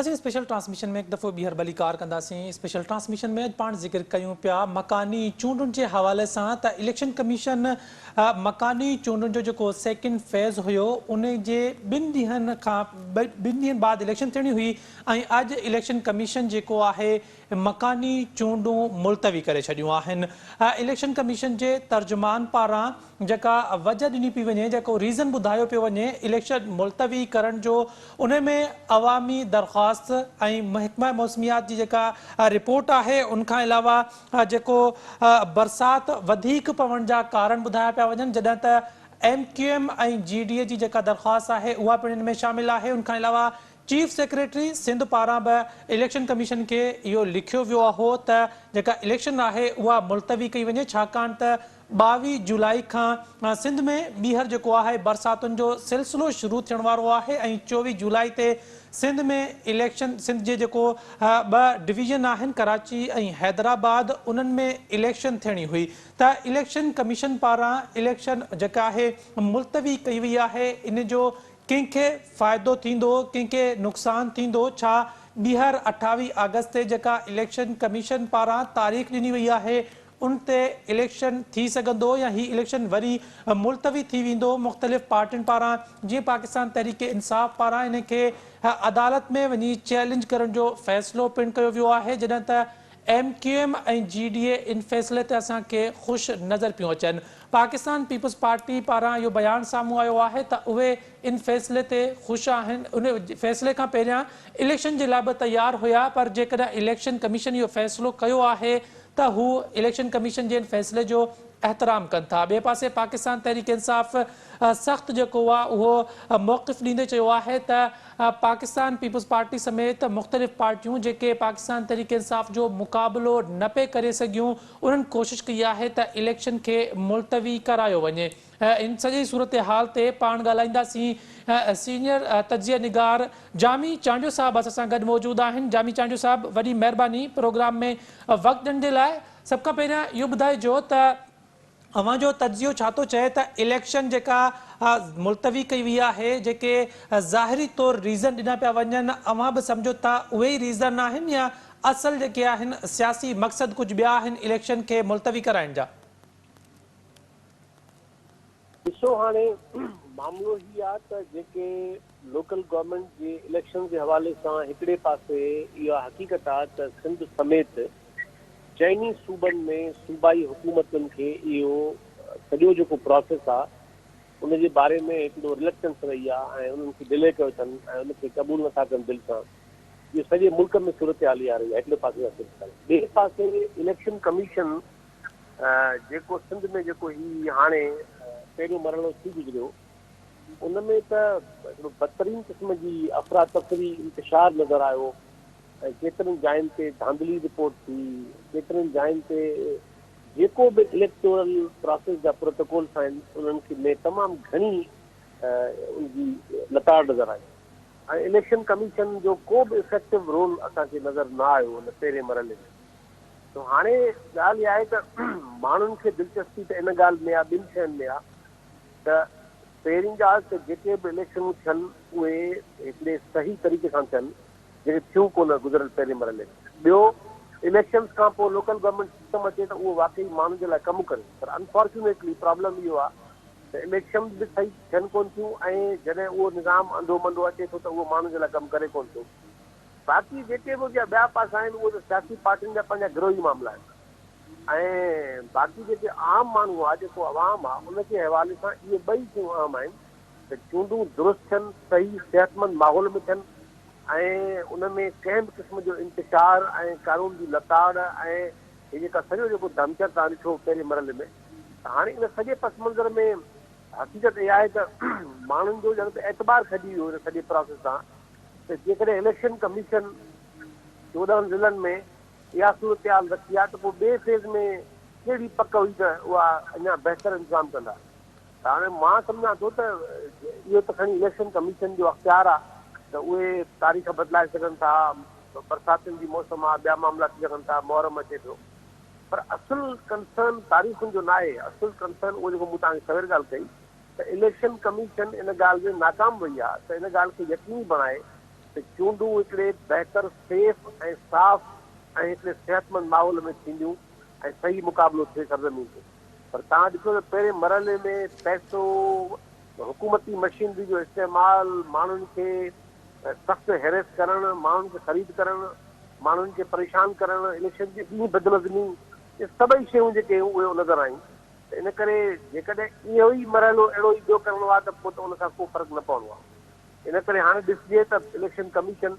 اسين special transmission ۾ هڪ دفعو ٻيهر ڀليڪار ڪنداسين. اسپيشل ٽرانسميشن ۾ اڄ پاڻ ذڪر ڪيون پيا مڪاني چونڊن جي حوالي سان ته اليڪشن ڪميشن مڪاني چونڊن جو جيڪو سيڪنڊ فيز هيو ان جي ٻن ڏينهن کان ٻن ڏينهن بعد اليڪشن ٿيڻي هئي ۽ اڄ اليڪشن ڪميشن جيڪو آهي مڪاني چونڊون ملتوي ڪري ڇڏيون آهن اليڪشن ڪميشن جي ترجمان پاران جيڪا وجه ڏني پي وڃي جيڪو ريزن ٻڌايو پيو وڃي اليڪشن ملتوي ڪرڻ جو ان ۾ عوامي درخواست ۽ محڪمه موسميات جي جيڪا رپورٽ آهي ان کان علاوه جيڪو برسات وڌيڪ پوڻ جا ڪارڻ ٻڌايا پيا وڃن جڏهن ته M Q M ۽ G D A جي جيڪا درخواست آهي اها پڻ ان ۾ شامل آهي ان کان علاوه چيف سيڪريٽري سنڌ پاران به اليڪشن ڪميشن کي اهو لکيو ويو هو ته جيڪا اليڪشن آهي اها ملتوي ڪئي وڃي ڇاڪاڻ ته ٻاويهه جولائي کان سنڌ ۾ ٻيهر جيڪو آهي برساتن جو سلسلو شروع ٿيڻ وارو آهي ۽ چوويهه جولائي تي سنڌ ۾ اليڪشن سنڌ جي جيڪو ٻه ڊويزن آهن ڪراچي ۽ حيدرآباد انهن ۾ اليڪشن ٿيڻي هئي ته اليڪشن ڪميشن پاران اليڪشن جيڪا آهي ملتوي ڪئي وئي آهي ان جو ڪنهن کي فائدو ٿيندو، ڪنهن کي نقصان ٿيندو، ڇا ٻيهر اٺاويهه آگسٽ تي جيڪا اليڪشن ڪميشن پاران تاريخ ڏني وئي آهي ان تي اليڪشن ٿي سگهندو يا هي اليڪشن وري ملتوي ٿي ويندو، مختلف پارٽين پاران جيئن پاڪستان تحريڪ انصاف پاران ان کي عدالت ۾ وڃي چئلينج ڪرڻ جو فيصلو پڻ ڪيو ويو آهي جڏهن ته M Q M ۽ G D A ان فيصلي تي اسان کي خوش نظر پيون اچن، پاڪستان پيپلز پارٽي پاران اهو بيان سامهون آيو آهي ته اهي ان فيصلي تي خوش آهن، ان فيصلي کان پهريان اليڪشن جي لاء به تيار هيا پر جيڪڏهن اليڪشن ڪميشن اهو فيصلو ڪيو آهي ته هو اليڪشن ڪميشن جي ان فيصلي جو احترام ڪن ٿا، ٻئي پاسي پاڪستان تحريڪ انصاف سخت جيڪو آهي اهو موقف ڏيندي چيو آهي ته. پاڪستان پيپلز پارٽي سميت مختلف پارٽيون جيڪي پاڪستان تحريڪ انصاف جو مقابلو نه پئي ڪري سگهيون انهن ڪوشش ڪئي آهي ته اليڪشن کي ملتوي ڪرايو وڃي ان سڄي صورتحال تي پاڻ ڳالهائينداسين سينيئر تجزيه نگار جامي چانڊيو صاحب اسان سان گڏ موجود آهن جامي چانڊيو صاحب وڏي مهرباني پروگرام ۾ وقت ڏيڻ جي لاء سڀ کان پهريان اهو ٻڌائجو ته اوهان جو تجزيو ڇا ٿو چئي ته اليڪشن جيڪا ملتوي ڪئي وئي آهي جيڪي ظاهري طور ريزن ڏنا پيا وڃن اوهان به سمجهو ٿا اهي ئي ريزن آهن يا اصل جيڪي آهن سياسي مقصد ڪجهه ٻيا آهن اليڪشن کي ملتوي ڪرائڻ جا؟ ڏسو هاڻي معاملو هي آ ته جيڪي لوڪل گورنمينٽ جي اليڪشن جي حوالي سان هڪڙي پاسي اها حقيقت آ ته سنڌ سميت چئني صوبن ۾ صوبائي حڪومتن کي اهو سڄو جيڪو پراسيس آ ان جي باري ۾ هڪڙو رليڪٽنس رهي آ ۽ انهن کي ڊلي ڪيو اٿن ۽ ان کي قبول نٿا ڪن دل سان اهو سڄي ملڪ ۾ صورتحال اها رهي آ هڪڙي پاسي جا صورتحال ٻئي پاسي اليڪشن ڪميشن جيڪو سنڌ ۾ جيڪو هي هاڻي پهريون مرحلو ٿي گذريو ان ۾ ته هڪڙو بدترين قسم جي افراتفري انتشار نظر آيو ۽ ڪيترن جاين تي ڌانڌلي رپورٽ ٿي ڪيترين جاين تي جيڪو به اليڪٽورل پراسيس جا پروٽوڪولس آهن انهن کي ۾ تمام گهڻي ان جي لتاڙ نظر آئي ۽ اليڪشن ڪميشن جو ڪو به افيڪٽو رول اسان کي نظر نه آيو ان پهرين مرحلي ۾ سو هاڻي ڳالهه اها آهي ته ماڻهن کي دلچسپي ته ان ڳالهه ۾ آهي ٻن شين ۾ آهي ته پهرين ڳالهه ته جيڪي به اليڪشنون ٿين اهي هڪڙي صحيح طريقي سان ٿين جيڪي ٿيون ڪونه گذريل پهرين مرحلي ۾ ٻيو اليڪشنز کان پوء لوڪل گورنمينٽ سسٽم اچي ته اهو واقعي ماڻهن جي لاء ڪم ڪري پر انفارچونيٽلي پرابلم اهو آهي ته اليڪشنز به صحيح ٿين ڪونه ٿيون ۽ جڏهن اهو نظام انڌو منڌو اچي ٿو ته اهو ماڻهن جي لاء ڪم ڪري ڪونه ٿو باقي جيڪي به ان جا ٻيا پاسا آهن اهي ته سياسي پارٽين جا پنهنجا گروهي معاملا آهن ۽ باقي جيڪي عام ماڻهو آهي جيڪو عوام آهي ان جي حوالي سان اهي ٻئي شيون اهم آهن ته چونڊون درست ٿين صحيح صحتمند ماحول ۾ ٿين ۽ ان ۾ ڪنهن به قسم جو انتشار ۽ قانون جي لتاڙ ۽ هي جيڪا سڄو جيڪو دهمچڙ تان ڏٺو پهرين مرحلي ۾ ته هاڻي ان سڄي پس منظر ۾ حقيقت اها آهي ته ماڻهن جو ڄڻ ته اعتبار کڄي ويو ان سڄي پراسيس تان ته جيڪڏهن اليڪشن ڪميشن چوڏهن ضلعن ۾ اها صورتحال رکي ها ته پوء ٻئي فيز ۾ ڪهڙي پڪ هئي ته اها اڃا بهتر انتظام ڪندا ته هاڻي مان سمجهان ٿو ته اهو ته کڻي اليڪشن ڪميشن جو اختيار آهي ته اهي تاريخ بدلائي سگهن ٿا برساتن جي موسم آهي ٻيا معاملا ٿي سگهن ٿا محرم اچي پيو پر اصل ڪنسرن تاريخن جو ناهي اصل ڪنسرن اهو جيڪو مون توهان کي سوير ڳالهه ڪئي ته اليڪشن ڪميشن ان ڳالهه ۾ ناڪام وئي آهي ته ان ڳالهه کي يقيني بڻائي ته چونڊون هڪڙي بهتر، سيف ۽ صاف ۽ هڪڙي صحتمند ماحول ۾ ٿينديون ۽ صحيح مقابلو ٿئي سرزمين تي پر توهان ڏسو ته پهرين مرحلي ۾ پئسو، حڪومتي مشينري جو استعمال، ماڻهن کي سخت هيريس ڪرڻ، ماڻهن کي خريد ڪرڻ، ماڻهن کي پريشان ڪرڻ، اليڪشن جي ڏينهن بدنظمي، اهي سڀئي شيون جيڪي هيون اهي نظر آيون. ته ان ڪري جيڪڏهن اهو ئي مرحلو اهڙو ئي ٻيو ڪرڻو آهي ته پوء ته ان سان ڪو فرق نه پوڻو آهي. ان ڪري هاڻي ڏسجي ته اليڪشن ڪميشن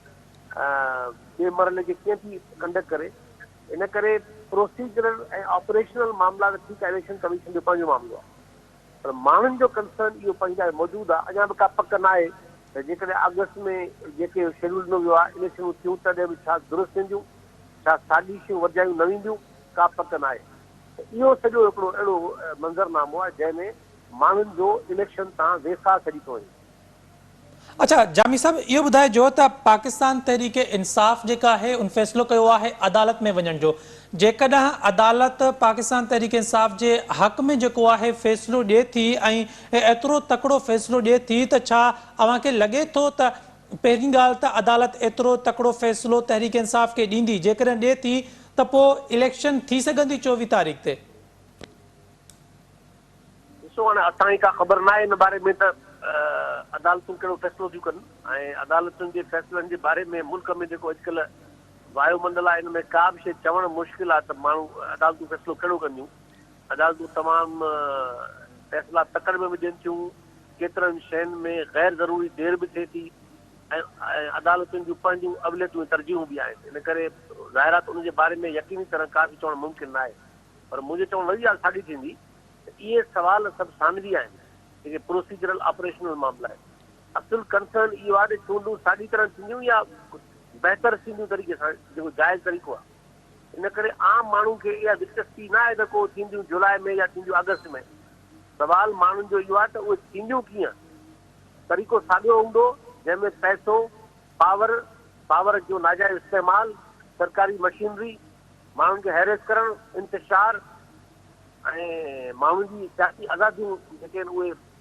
ٻئي مرحلي کي ڪيئن ٿي ڪنڊڪٽ ڪري. ان ڪري پروسيجرل ۽ آپريشنل معاملا ته ٺيڪ آهي اليڪشن ڪميشن جو پنهنجو معاملو آهي پر ماڻهن جو ڪنسرن اهو پنهنجي لاء موجود آهي اڃا به ڪا پڪ ناهي ته جيڪڏهن آگسٽ ۾ جيڪي شيڊيول ڏنو ويو آهي اليڪشنون ٿيون تڏهن به ڇا درست وينديون ڇا سازشون ورجايون نه وينديون ڪا پڪ ناهي. ته اهو سڄو هڪڙو اهڙو منظر نامو آهي جنهن ۾ ماڻهن جو اليڪشن تان ويساهه ڇڏي ٿو وڃي. اڇا جامي صاحب اهو ٻڌائجو ته پاڪستان تحريڪ انصاف جيڪا آهي ان فيصلو ڪيو آهي عدالت ۾ وڃڻ جو جيڪڏهن عدالت پاڪستان تحريڪ انصاف جي حق ۾ جيڪو آهي فيصلو ڏي ٿي ۽ ايترو تڪڙو فيصلو ڏي ٿي ته ڇا اوهان کي لڳي ٿو ته پهرين ڳالهه ته عدالت ايترو تڪڙو فيصلو تحريڪ انصاف کي ڏيندي، جيڪڏهن ڏئي ٿي ته پوء اليڪشن ٿي سگهندي چوويهه تاريخ تي؟ ڏسو هاڻي اسان کي ڪا خبر ناهي ان باري ۾ ته عدالتون ڪهڙو فيصلو ٿيون ڪن ۽ عدالتن جي فيصلن جي باري ۾ ملڪ ۾ جيڪو اڄڪلهه وايو منڊل آهي ان ۾ ڪا به شيء چوڻ مشڪل آهي ته ماڻهو عدالتون فيصلو ڪهڙو ڪنديون عدالتون تمام فيصلا تڪڙ ۾ به ڏين ٿيون، ڪيترن شين ۾ غير ضروري دير به ٿئي ٿي ۽ عدالتن جون پنهنجون اوليتون ۽ ترجيحون به آهن، ان ڪري ظاهرا ته ان جي باري ۾ يقيني طرح ڪا به چوڻ ممڪن ناهي، پر منهنجي چوڻ وري ڳالهه ساڳي ٿيندي ته اهي سوال سڀ ثانوي آهن، جيڪي پروسيجرل آپريشنل معاملا آهن، اصل ڪنسرن اهو آهي ته چونڊون ساڳي طرح ٿينديون يا بهتر ٿينديون طريقي سان جيڪو جائز طريقو آهي. ان ڪري عام ماڻهن کي اها دلچسپي نه آهي ته ڪو ٿينديون جولاء ۾ يا ٿينديون آگسٽ ۾. سوال ماڻهن جو اهو آهي ته اهي ٿينديون ڪيئن؟ طريقو ساڳيو هوندو، جنهن ۾ پئسو، پاور، پاور جو ناجائز استعمال، سرڪاري مشينري، ماڻهن کي هيريس ڪرڻ، انتشار ۽ ماڻهن جي سياسي آزاديون جيڪي آهن اهي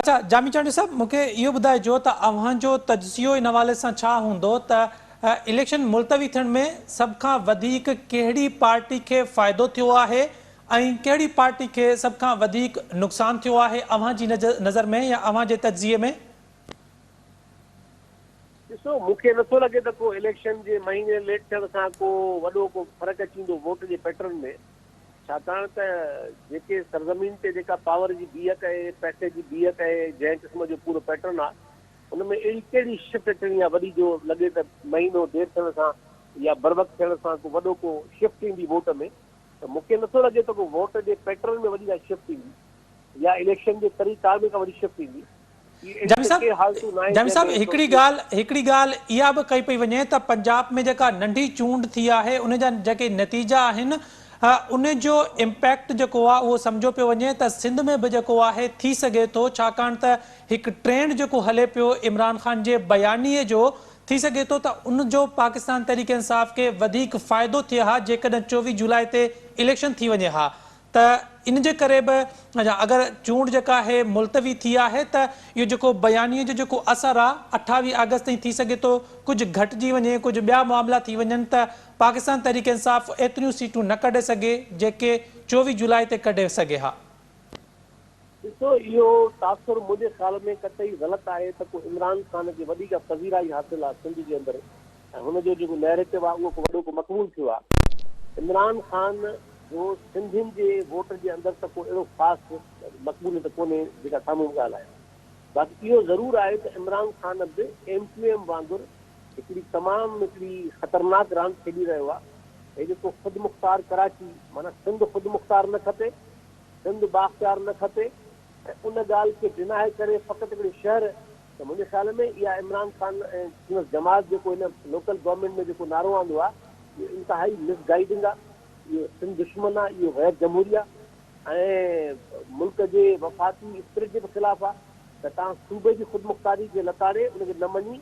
اڇا جامي چانڊيو صاحب مون کي اهو ٻڌائجو ته اوهان جو تجزيو ان حوالي سان ڇا هوندو ته اليڪشن ملتوي ٿيڻ ۾ سڀ کان وڌيڪ ڪهڙي پارٽي کي فائدو ٿيو آهي ۽ ڪهڙي پارٽي کي سڀ کان وڌيڪ نقصان ٿيو آهي اوهان جي نظر ۾ يا اوهان جي تجزيي ۾ ڏسو مون کي نٿو لڳي ته ڪو اليڪشن جي مهيني ليٽ ٿيڻ سان ڪو وڏو ڪو فرق اچي ويندو ووٽ جي پيٽرن ۾ ڇاڪاڻ ته جيڪي سرزمين تي جيڪا پاور جي بيهڪ ۽ پئسي جي بيهڪ ۽ جنهن قسم جو پورو پيٽرن آ ان ۾ اهڙي ڪهڙي شفٽ اچڻي آ وڏي جو لڳي ته مهينو دير ٿيڻ سان يا بروقت ٿيڻ سان ڪو وڏو ڪو شفٽ ايندي ووٽ ۾ ته مون کي نٿو لڳي ته ڪو ووٽ جي پيٽرن ۾ وڏي ڪا شفٽ ايندي يا اليڪشن جي طريقار ۾ ڪا وڏي شفٽ ايندي. جامي صاحب جامي صاحب هڪڙي ڳالهه هڪڙي ڳالهه اها به ڪئي پئي وڃي ته پنجاب ۾ جيڪا ننڍي چونڊ ٿي آهي ان جا جيڪي نتيجا آهن ان جو امپيڪٽ جيڪو آهي اهو سمجهو پيو وڃي ته سنڌ ۾ به جيڪو آهي ٿي سگهي ٿو ڇاڪاڻ ته هڪ ٽرينڊ جيڪو هلي پيو عمران خان جي بيانيي جو ٿي سگهي ٿو ته ان جو پاڪستان تحريڪ انصاف کي وڌيڪ فائدو ٿئي ها جيڪڏهن چوويهه جولاء تي اليڪشن ٿي وڃي ها ته ان جي ڪري به اگر چونڊ جيڪا آهي ملتوي ٿي آهي ته اهو جيڪو بيانيي جو جيڪو اثر آهي اٺاويهه آگسٽ تائين ٿي سگهي ٿو ڪجهه گهٽجي وڃي ڪجهه ٻيا معاملا ٿي وڃن ته پاڪستان تحريڪ انصاف ايتريون سيٽون نه ڪڍي سگهي جيڪي چوويهه جولاء تي ڪڍي سگهي ها. ڏسو اهو تاثر منهنجي خيال ۾ قطعي غلط آهي ته ڪو عمران خان کي وڏي ڪا پذيرائي حاصل آهي سنڌ جي اندر ۽ هن جو جيڪو نيريٽو آهي اهو وڏو ڪو مقبول ٿيو آهي. عمران خان جو سنڌين جي ووٽ جي اندر ته ڪو اهڙو خاص مقبوليت ڪونهي جيڪا سامهون به ڳالهه آهي باقي اهو ضرور آهي ته عمران خان به ايم ڪيو ايم وانگر هڪڙي تمام هڪڙي خطرناڪ راند کيڏي رهيو آهي هي جيڪو خودمختار ڪراچي معنيٰ سنڌ خودمختار نه کپي سنڌ بااختيار نه کپي ۽ ان ڳالهه کي ڊيناء ڪري فقط هڪڙي شهر ته منهنجي خيال ۾ اها عمران خان ۽ سندس جماعت جيڪو هن لوڪل گورنمينٽ ۾ جيڪو نعرو آندو آهي اهو انتهائي مس گائيڊنگ آهي اهو سنڌ دشمن آهي اهو غير جمهوري آهي ۽ ملڪ جي وفاقي اسپرٽ جي به خلاف آهي ته توهان صوبي جي خودمختاري جي لتاڙي ان کي نه مڃي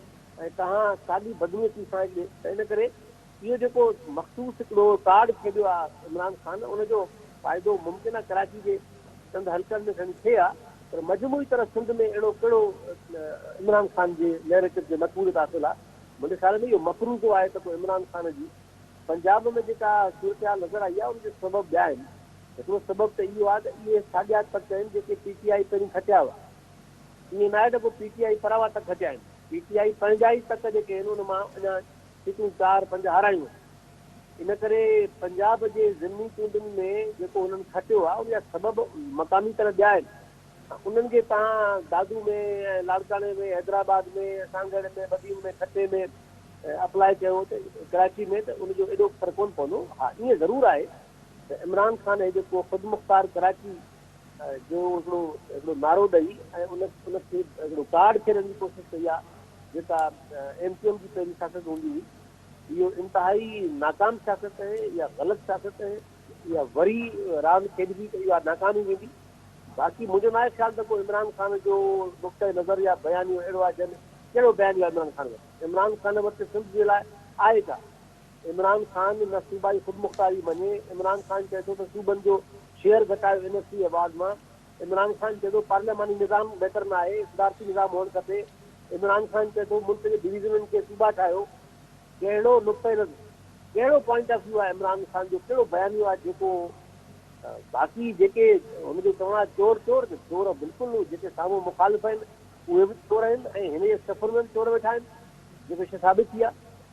۽ توهان ساڳي بدنيتي سان هڪڙي ته ان ڪري اهو جيڪو مخصوص هڪڙو ڪارڊ کيڏيو آ عمران خان ان جو فائدو ممڪن آ ڪراچي جي چند حلقن ۾ کڻي ٿئي آ پر مجموعي طرح سنڌ ۾ اهڙو ڪهڙو عمران خان جي نيريٽو جي مقبوليت حاصل آ منهنجي خيال ۾ اهو مفروضو آهي ته پوء عمران خان جي پنجاب ۾ جيڪا صورتحال نظر آئي آ ان جا سبب ٻيا آهن هڪڙو سبب ته اهو آ ته اهي ساڳيا تڪ آهن جيڪي پي ٽي آئي پهرين کٽيا هئا ائين ناهي ته پوء پي ٽي آئي پراوا تڪ کٽيا آهن پي ٽي آئي پنهنجا ئي تڪ جيڪي آهن ان مان اڃا سيٽون چار پنج هارايون هيون، ان ڪري پنجاب جي ضمني چونڊن ۾ جيڪو هنن کٽيو آهي ان جا سبب مقامي طرح ٻيا آهن، انهن کي توهان دادو ۾ ۽ لاڙڪاڻي ۾ حيدرآباد ۾ سانگهڙ ۾ بدين ۾ ٺٽي ۾ اپلائي ڪيو ته ڪراچي ۾ ته ان جو ايڏو اثر ڪونه پوندو، ها ائين ضرور آهي ته عمران خان هي جيڪو خودمختار ڪراچي جو هڪڙو هڪڙو نعرو ڏئي ۽ ان کي هڪڙو ڪارڊ کيڏڻ جي ڪوشش ڪئي آهي جيڪا ايم ڪيو ايم جي پهرين سياست هوندي هئي اهو انتهائي ناڪام سياست آهي يا غلط سياست آهي يا وري راند کيڏبي ته اها ناڪام ئي ويندي باقي منهنجو ناهي خيال ته ڪو عمران خان جو نقطه نظر يا بيانيو اهڙو آهي جنهن ۾ ڪهڙو بيانيو عمران خان وٽ عمران خان وٽ سنڌ جي لاء آهي ڇا عمران خان نه صوبائي خودمختاري مڃي، عمران خان چئي ٿو ته صوبن جو شيئر گهٽايو اين ايف سي ايوارڊ مان، عمران خان چئي ٿو پارلياماني نظام بهتر نه آهي، صدارتي نظام هئڻ کپي، عمران خان چئي ٿو ملڪ جي ڊويزنن کي صوبا ٺاهيو، ڪهڙو نقطه نظر، ڪهڙو پوائنٽ آف ويو آهي عمران خان جو، ڪهڙو بيانيو آهي جيڪو باقي جيڪي هن جو چوڻ آهي چور چور ته چور بلڪل جيڪي سامهون مخالف آهن اهي به چور آهن ۽ هن جي صفن ۾ به چور ويٺا آهن جيڪو شيء ثابت ٿي آهي.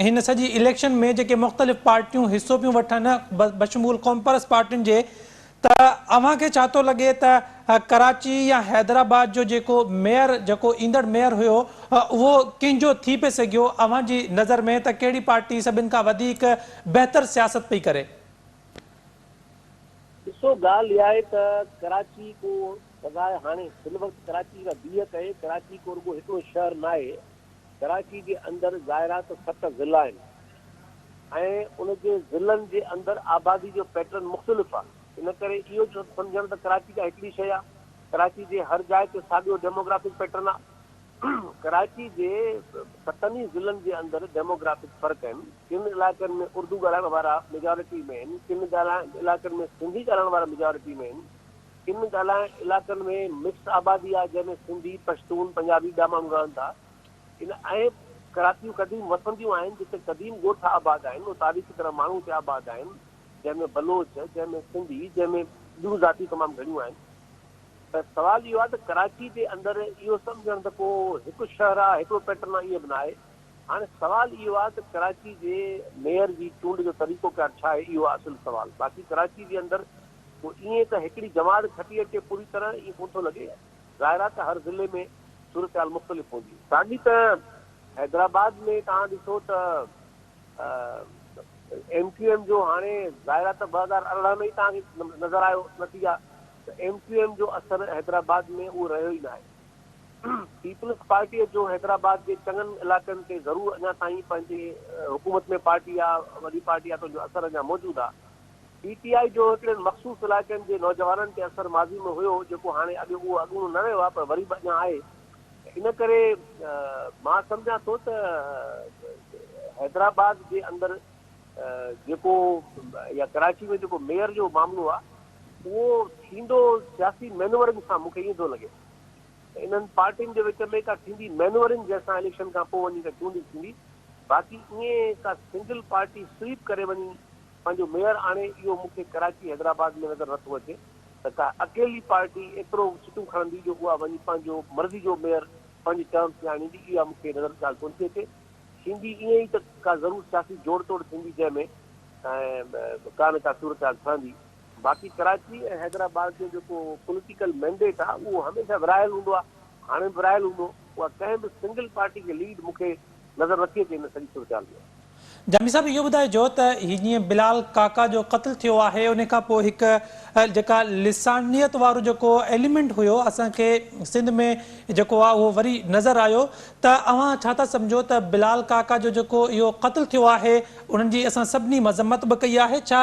هن سڄي اليڪشن ۾ جيڪي مختلف پارٽيون حصو پيون وٺن بشمول قومپرست پارٽين جي ته اوهان کي ڇا ٿو لڳي ته ڪراچي يا حيدرآباد جو جيڪو ميئر جيڪو ايندڙ ميئر هيو اهو ڪنهن جو ٿي پئي سگهيو اوهان جي نظر ۾ ته ڪهڙي پارٽي سڀن کان وڌيڪ بهتر سياست پئي ڪري. ڏسو ڳالهه اها آهي ته ڪراچي ڪو سواء هاڻي هن وقت ڪراچي جيڪا بيهڪ آهي ڪراچي ڪو رڳو هڪڙو شهر ناهي ڪراچي جي اندر ظاهرا ته ست ضلعا آهن ۽ ان جي ضلعن جي اندر آبادي جو پيٽرن مختلف آهي ان ڪري اهو سمجهڻ ته ڪراچي ڪا هڪڙي شيء آهي ڪراچي جي هر جاء تي ساڳيو ڊيموگرافڪ پيٽرن آهي ڪراچي جي ستن ئي ضلعن جي اندر ڊيموگرافڪ فرق آهن ڪن علائقن ۾ اردو ڳالهائڻ وارا ميجارٽي ۾ آهن ڪن علائقن ۾ سنڌي ڳالهائڻ وارا ميجارٽي ۾ آهن ڪن ڳالهائڻ علائقن ۾ مڪس آبادي آهي جنهن ۾ سنڌي، پشتون، پنجابي ٻيا ماڻهو رهن ٿا. ان اهي ڪراتيون قديم وسنديون آهن جتي قديم ڳوٺ آباد آهن ۽ تاريخي طرح ماڻهو اتي آباد آهن جنهن ۾ بلوچ، جنهن ۾ سنڌي، جنهن ۾ ٻيون ذاتيون تمام گهڻيون آهن. ته سوال اهو آهي ته ڪراچي جي اندر اهو سمجهڻ ته ڪو هڪ شهر آهي، هڪڙو پيٽرن آهي ائين به نه آهي. هاڻي سوال اهو آهي ته ڪراچي جي ميئر جي چونڊ جو طريقو ڪار ڇا آهي اهو آهي اصل سوال. باقي ڪراچي جي اندر پوء ائين ته هڪڙي جماعت کٽي اچي پوري طرح ائين ڪونه ٿو لڳي. ظاهر آهي ته هر ضلعي ۾ صورتحال مختلف هوندي. ساڳي طرح حيدرآباد ۾ توهان ڏسو ته ايم ڪيو ايم جو هاڻي ظاهر آهي ته ٻه هزار ارڙهن ۾ ئي توهان کي نظر آيو نتيجا ته ايم ڪيو ايم جو اثر حيدرآباد ۾ اهو رهيو ئي ناهي. پيپلز پارٽيء جو حيدرآباد جي چڱن علائقن تي ضرور اڃا تائين پنهنجي حڪومت ۾ پارٽي آ وڏي پارٽي آ تنهنجو اثر اڃا موجود آ پي ٽي آء جو هڪڙن مخصوص علائقن جي نوجوانن تي اثر ماضي ۾ هيو جيڪو هاڻي اڳ اهو اڳوڻو نه رهيو آهي پر وري به اڃا آهي ان ڪري مان سمجهان ٿو ته حيدرآباد جي اندر جيڪو يا ڪراچي ۾ جيڪو ميئر جو معاملو آهي اهو ٿيندو سياسي مينورنگ سان مونکي ائين ٿو لڳي انهن پارٽين جي وچ ۾ ڪا ٿيندي مينورنگ جنهن سان اليڪشن کان پوء وڃي ڪا چونڊ ٿيندي باقي ائين ڪا سنگل پارٽي سويپ ڪري وڃي پنهنجو ميئر آڻي اهو مون کي ڪراچي حيدرآباد ۾ نظر نٿو اچي ته ڪا اڪيلي پارٽي ايترو سيٽون کڻندي جو اها وڃي پنهنجو مرضي جو ميئر پنهنجي ٽرمس ۾ آڻيندي اها مون کي نظر ڳالهه ڪونه ٿي اچي ٿيندي ائين ئي ته ڪا ضرور سياسي جوڙ توڙ ٿيندي جنهن ۾ ڪا نه ڪا صورتحال ٺهندي باقي ڪراچي ۽ حيدرآباد جو جيڪو پوليٽيڪل مينڊيٽ آهي اهو هميشه ورهايل هوندو آهي هاڻي به راهيل هوندو. اها ڪنهن به سنگل پارٽي جي ليڊ مون کي نظر نٿي اچي ان سڄي صورتحال ۾. جامي صاحب اهو ٻڌائجو ته هي جيئن بلال ڪاڪا جو قتل ٿيو آهي ان کان پوء هڪ جيڪا لسانيت وارو جيڪو ايليمينٽ هيو اسان کي سنڌ ۾ جيڪو آهي اهو وري نظر آيو ته اوهان ڇا ٿا سمجهو ته بلال ڪاڪا جو جيڪو اهو قتل ٿيو آهي انهن جي اسان سڀني مذمت به ڪئي آهي ڇا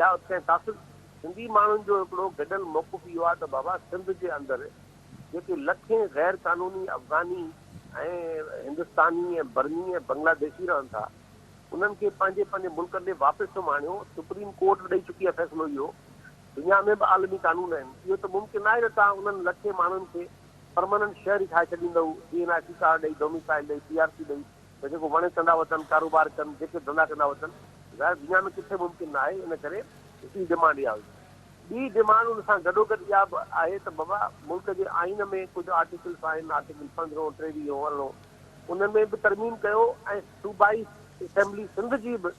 يا اتي تاثر سنڌي ماڻهن جو هڪڙو گڏيل موقف اهو آهي ته بابا سنڌ جي اندر جيڪي لکين غير قانوني افغاني ۽ هندستاني ۽ برمي ۽ بنگلاديشي رهن ٿا انهن کي پنهنجي پنهنجي ملڪن ڏي واپس ٿيو آڻيو سپريم ڪورٽ به ڏئي چڪي آهي فيصلو اهو دنيا ۾ به عالمي قانون آهن اهو ته ممڪن ناهي ته توهان انهن لکين ماڻهن کي پرماننٽ شهري ٺاهي ڇڏيندؤ جي اين آر سي ڪارڊ ڏئي ڊوميسائل ڏئي پي آر سي ڏئي ته جيڪو وڻي ڪندا وتن، ڪاروبار ڪن، جيڪي ڌندا ڪندا وتن. ظاهر دنيا ۾ ڪٿي ممڪن ناهي، ان ڪري هڪڙي ڊمانڊ اها هئي. ٻي ڊمانڊ ان سان گڏوگڏ اها به آهي ته بابا ملڪ جي آئين ۾ ڪجهه آرٽيڪلس آهن، آرٽيڪل پندرهون، ٽيويهون، ارڙهون، انهن ۾ به ترميم ڪيو ۽ صوبائي اسيمبلي سنڌ جي به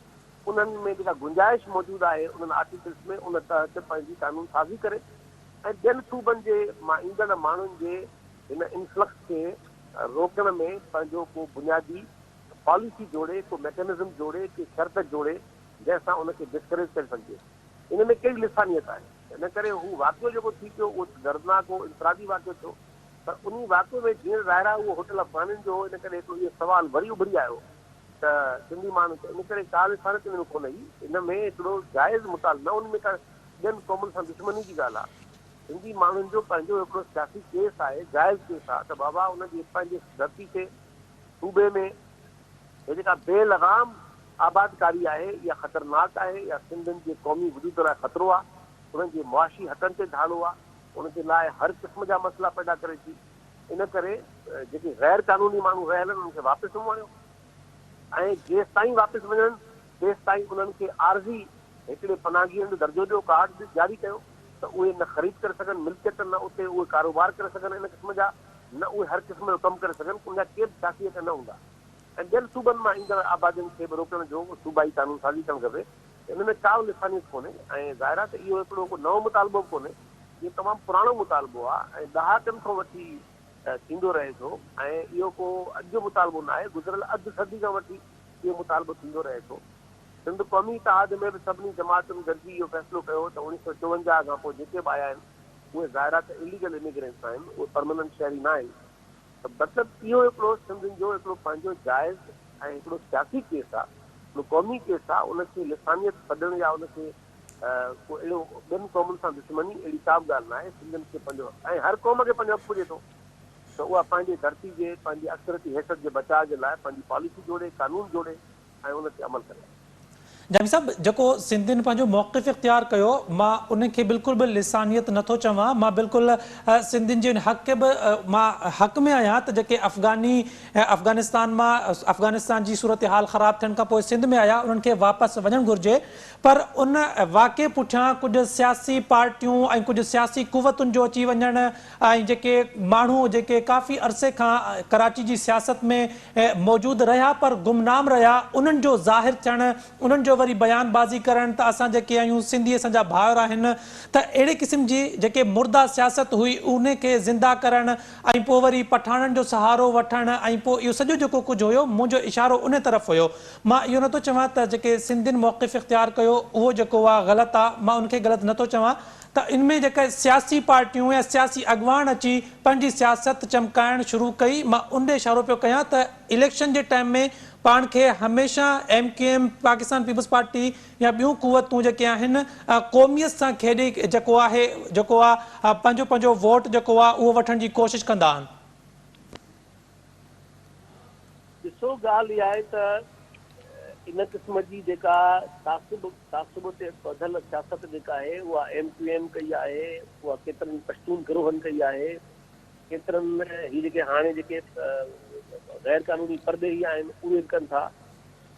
انهن ۾ جيڪا گنجائش موجود آهي انهن آرٽيڪلس ۾ ان تحت پنهنجي قانون سازي ڪري ۽ ٻين صوبن جي مان ايندڙ ماڻهن جي هن انفلڪس کي روڪڻ ۾ پنهنجو ڪو بنيادي پاليسي جوڙي، ڪو ميڪنزم جوڙي، ڪي شرط جوڙي، جنهن سان ان کي ڊسڪريج ڪري سگهجي. ان ۾ ڪهڙي لسانيت آهي؟ ان ڪري هو واقعو جيڪو ٿي پيو، اهو دردناڪ هو، انفرادي واقعو ٿيو، پر انهي واقعي ۾ جيئڻ ظاهر آهي اهو هوٽل افغانين جو هو، ان ڪري هڪڙو اهو سوال وري اڀري آيو ته سنڌي ماڻهن کي ان ڪري ڪا لسانيت ان ۾ ڪونه هئي، ان ۾ هڪڙو جائز مطالبو نه، ان ۾ ڪا ٻين قومن سان دشمني جي ڳالهه آهي. سنڌي ماڻهن جو پنهنجو هڪڙو سياسي ڪيس آهي، جائز ڪيس آهي ته بابا ان جي پنهنجي ڌرتي تي، صوبي ۾، هي جيڪا بي لغام آبادڪاري آهي اها خطرناڪ آهي، اها سنڌين جي قومي وجود لاء خطرو آهي، انهن جي معاشي حقن تي ڌاڙو آهي، ان جي لاء هر قسم جا مسئلا پيدا ڪري ٿي، ان ڪري جيڪي غير قانوني ماڻهو رهيل آهن انهن کي واپس ووڻيو ۽ جيستائين واپس وڃن تيستائين انهن کي عارضي هڪڙي پناهگيرن جو درجو ڏيو، ڪارڊ ڏي، جاري ڪيو ته اهي نه خريد ڪري سگهن ملڪيت، نه اتي اهي ڪاروبار ڪري سگهن ان قسم جا، نه اهي هر قسم جو ڪم ڪري سگهن، ان جا ڪي به سياسي حق نه هوندا ۽ ٻين صوبن مان ايندڙ آبادين کي به روڪڻ جو صوبائي قانون سازي ڪرڻ گهربي ته ان ۾ ڪا به لسانيت ڪونهي ۽ ظاهر آهي ته اهو هڪڙو ڪو نئون مطالبو به ڪونهي، اهو تمام پراڻو مطالبو آهي ۽ ڏهاڪن کان وٺي ٿيندو رهي ٿو ۽ اهو ڪو اڄ جو مطالبو نه آهي، گذريل اڌ صدي کان وٺي. اهو مطالبو ٿيندو رهي ٿو. سنڌ قومي اتحاد ۾ به سڀني جماعتن گڏجي اهو فيصلو ڪيو هو ته اڻيهه سؤ چوونجاهه کان پوء جيڪي به آيا آهن اهي ظاهرا ته اليگل اميگرينٽس آهن، اهي پرماننٽ شهري نه آهن ته مطلب اهو هڪڙو سنڌين جو هڪڙو پنهنجو جائز ۽ هڪڙو سياسي ڪيس آهي، هڪڙو قومي ڪيس آهي، ان کي لسانيت سڏڻ يا ان کي ڪو اهڙو ٻين قومن سان دشمني اهڙي ڪا به ڳالهه نه آهي، سنڌين کي پنهنجو ۽ هر قوم کي پنهنجو حق پڄي ٿو. ته اها پنهنجي ڌرتي جي پنهنجي اڪثريتي حيثيت جي بچاء جي لاء پنهنجي پاليسي جوڙي، قانون جوڙي ۽ ان تي عمل ڪري. جامي صاحب جيڪو سنڌين پنهنجو موقف اختيار ڪيو مان ان کي بلڪل به لسانيت نه ٿو چوان مان بلڪل سنڌين جي ان حق کي به مان حق ۾ آهيان ته جيڪي افغاني افغانستان مان افغانستان جي صورتحال خراب ٿيڻ کان پوء سنڌ ۾ آيا انهن کي واپس وڃڻ گهرجي پر ان واقعي پٺيان ڪجهه سياسي پارٽيون ۽ ڪجهه سياسي قوتن جو اچي وڃڻ ۽ جيڪي ماڻهو جيڪي ڪافي عرصي کان ڪراچي جي سياست ۾ موجود رهيا پر گمنام رهيا انهن جو ظاهر ٿيڻ انهن جو وري بيان بازي ڪرڻ ته اسان جيڪي آهيون سنڌي اسان جا ڀائر آهن ته اهڙي قسم جي جيڪي مرده سياست هئي ان کي زنده ڪرڻ ۽ پوء وري پٺاڻن جو سهارو وٺڻ ۽ پوء اهو سڄو جيڪو ڪجهه هيو منهنجو اشارو ان طرف هيو مان اهو نٿو چوان ته جيڪي سنڌين موقف اختيار ڪيو اهو جيڪو آ غلط آ مان ان کي غلط نٿو چوان ته ان ۾ جيڪي سياسي پارٽيون يا سياسي اڳواڻ اچي پنهنجي سياست چمڪائڻ شروع ڪئي مان ان ڏي اشارو پيو ڪيان ته اليڪشن جي ٽائيم ۾ پاڻ کي هميشه M Q M Pakistan peoples Party يا ٻيون قوتون جيڪي آهن قوميت سان کيڏي جيڪو آهي جيڪو آ پنهنجو پنهنجو ووٽ جيڪو آ اهو وٺڻ جي ڪوشش ڪندا آهن. ڏسو ڳالهه اها آهي ته ان قسم جي جيڪا تعصب تعصب تي ٻڌل سياست جيڪا آهي اها ايم ڪيو ايم ڪئي آهي اها ڪيترن پشتون گروهن ڪئي آهي ڪيترن هي جيڪي هاڻي جيڪي غير قانوني پرڏيهي آهن اهي به ڪن ٿا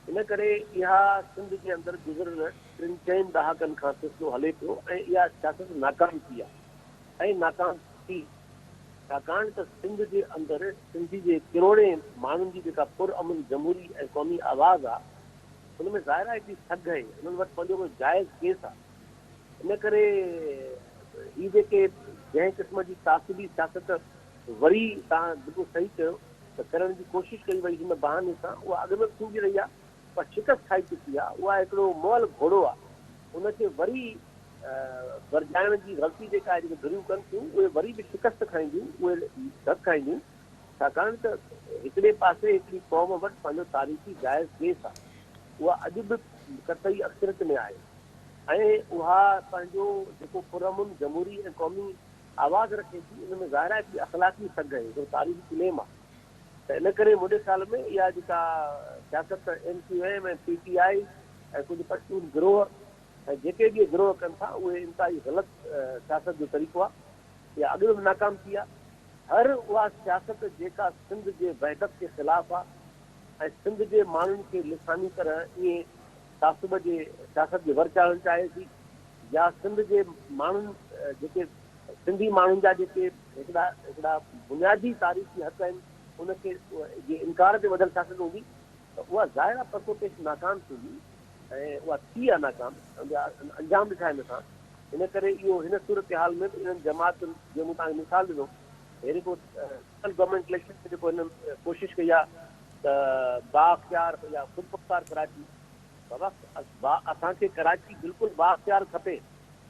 ان ڪري اها سنڌ جي اندر گذريل ٽن چئن ڏهاڪن کان سلسلو هلي پيو ۽ اها سياست ناڪام ٿي آهي ۽ ناڪام ٿي ڇاڪاڻ ته سنڌ جي اندر سنڌي جي ڪروڙين ماڻهن جي جيڪا پر امن جمهوري ۽ قومي آواز آ ان ۾ ظاهر آهي ڪي سگهه اهي انهن وٽ پنهنجو ڪو جائز ڪيس آ ان ڪري هي جيڪي جنهن قسم جي تعصبي سياست وري تان بلڪل صحيح چيو ته ڪرڻ جي ڪوشش ڪئي وئي هن بهاني سان اها اڳ ۾ به ٿيندي رهي آ. پر شڪست کائي چڪي آ، اها هڪڙو مئل گهوڙو آ، ان کي وري ورجائڻ جي غلطي جيڪا آهي، جيڪي ڌريون ڪن ٿيون، اهي وري به شڪست کائينديون، اهي ڌڪ کائينديون، ڇاڪاڻ ته هڪڙي پاسي هڪڙي قوم وٽ پنهنجو تاريخي جائز سپيس آ، اها اڄ به قطعي اڪثريت ۾ آهي ۽ اها پنهنجو جيڪو پرامن جمهوري ۽ قومي آواز رکي ٿي، ان ۾ ظاهر آهي ٻي اخلاقي سگهه هڪڙو تاريخي ڪليم آ. ته ان ڪري منهنجي خيال ۾ اها جيڪا سياست M Q M ۽ P T I ۽ ڪجهه پشتون گروهه ۽ جيڪي به اهي گروهه ڪن ٿا اهي انتهائي غلط سياست جو طريقو آهي. اها اڳ ۾ به ناڪام ٿي آهي. هر اها سياست جيڪا سنڌ جي وحدت جي خلاف آهي ۽ سنڌ جي ماڻهن کي لساني طرح ائين تعصب جي سياست جي ور چاڙهڻ چاهي ٿي يا سنڌ جي ماڻهن جيڪي سنڌي ماڻهن جا جيڪي هڪڙا هڪڙا بنيادي تاريخي حق آهن ان کي جي انڪار تي ٻڌل سياست هوندي ته اها ظاهر آهي پرتو پيش ناڪام ٿيندي ۽ اها ٿي آهي ناڪام انجام ڏٺا آهن اسان ان ڪري اهو هن صورتحال ۾ به انهن جماعتن جيئن مون توهان کي مثال ڏنو اهڙي ڪو گورنمينٽ اليڪشن ۾ جيڪو هنن ڪوشش ڪئي آهي ته بااختيار يا خودمختار ڪراچي بوقت با اسان کي ڪراچي بلڪل بااختيار کپي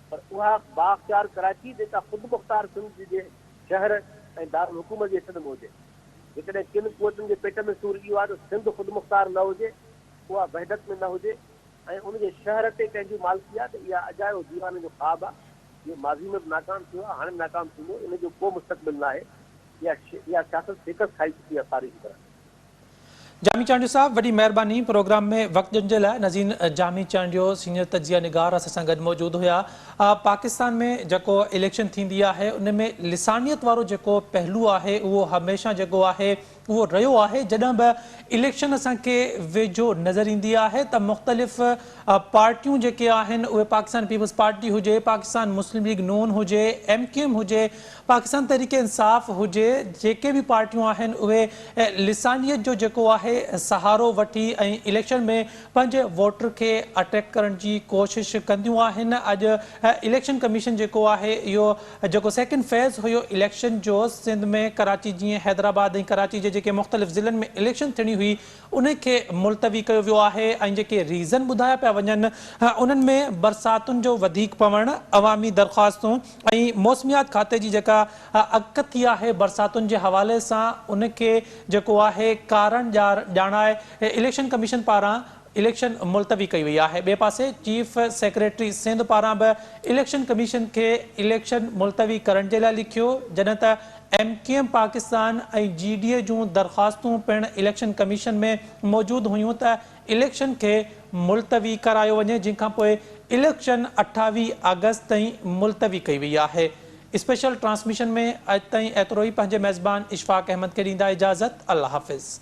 پر اها بااختيار ڪراچي جيڪا خودمختار سنڌ جي شهر ۽ دارالحڪومت جي حصن ۾ هجي جيڪڏهن ڪن قوتن جي پيٽ ۾ سور اهو آهي ته سنڌ خودمختار نه هجي اها وحدت ۾ نه هجي ۽ ان جي شهر تي ڪنهن جي مالڪي آهي ته اها اجايو ديوانن جو خواب آهي جيڪو ماضي ۾ به ناڪام ٿيو آهي هاڻي به ناڪام ٿيندو ان جو ڪو مستقبل ناهي اها سياست شڪست کائي چڪي آهي تاريخي طرح. جامي چانڊيو صاحب وڏي مهرباني پروگرام ۾ وقت ڏيڻ جي لاء نظير جامي چانڊيو سينيئر تجزيه نگار اسان سان گڏ موجود هيا پاڪستان ۾ جيڪو اليڪشن ٿيندي آهي ان ۾ لسانيت وارو جيڪو پهلو آهي اهو هميشه جيڪو آهي اهو رهيو آهي جڏهن به اليڪشن اسان کي ويجهو نظر ايندي آهي ته مختلف پارٽيون جيڪي آهن اهي پاڪستان پيپلز پارٽي هجي پاڪستان مسلم ليگ نون هجي ايم ڪيو ايم هجي پاڪستان تحريڪ انصاف هجي جيڪي به پارٽيون آهن اهي لسانيت جو جيڪو آهي سهارو وٺي ۽ اليڪشن ۾ پنهنجي ووٽر کي اٽيڪ ڪرڻ جي ڪوشش ڪنديون آهن اڄ اليڪشن ڪميشن جيڪو آهي اهو جيڪو سيڪنڊ فيز هيو اليڪشن جو سنڌ ۾ ڪراچي جيئن حيدرآباد ۽ ڪراچي جي جيڪي مختلف ضلعن ۾ اليڪشن ٿيڻي هئي انهي کي ملتوي ڪيو ويو آهي ۽ جيڪي ريزن ٻڌايا پيا وڃن انهن ۾ برساتن جو وڌيڪ پوڻ، عوامي درخواستون ۽ موسميات کاتي جي جيڪا اڪ ٿي آهي برساتن جي حوالي سان ان کي جيڪو آهي ڪارڻ ڄار ڄاڻائي اليڪشن ڪميشن پاران اليڪشن ملتوي ڪئي وئي آهي ٻئي پاسي چيف سيڪريٽري سنڌ پاران به اليڪشن ڪميشن کي اليڪشن ملتوي ڪرڻ جي لاء لکيو جڏهن ته M Q M Pakistan ۽ G D A جون درخواستون پڻ اليڪشن ڪميشن ۾ موجود هيون ته اليڪشن کي ملتوي ڪرايو وڃي جنهن کانپوء اليڪشن اٺاويهه آگسٽ تائين ملتوي ڪئي وئي آهي اسپيشل ٽرانسميشن ۾ اڄ تائين ايترو ئي پنهنجي ميزبان اشفاق احمد کي ڏيندا اجازت الله حافظ.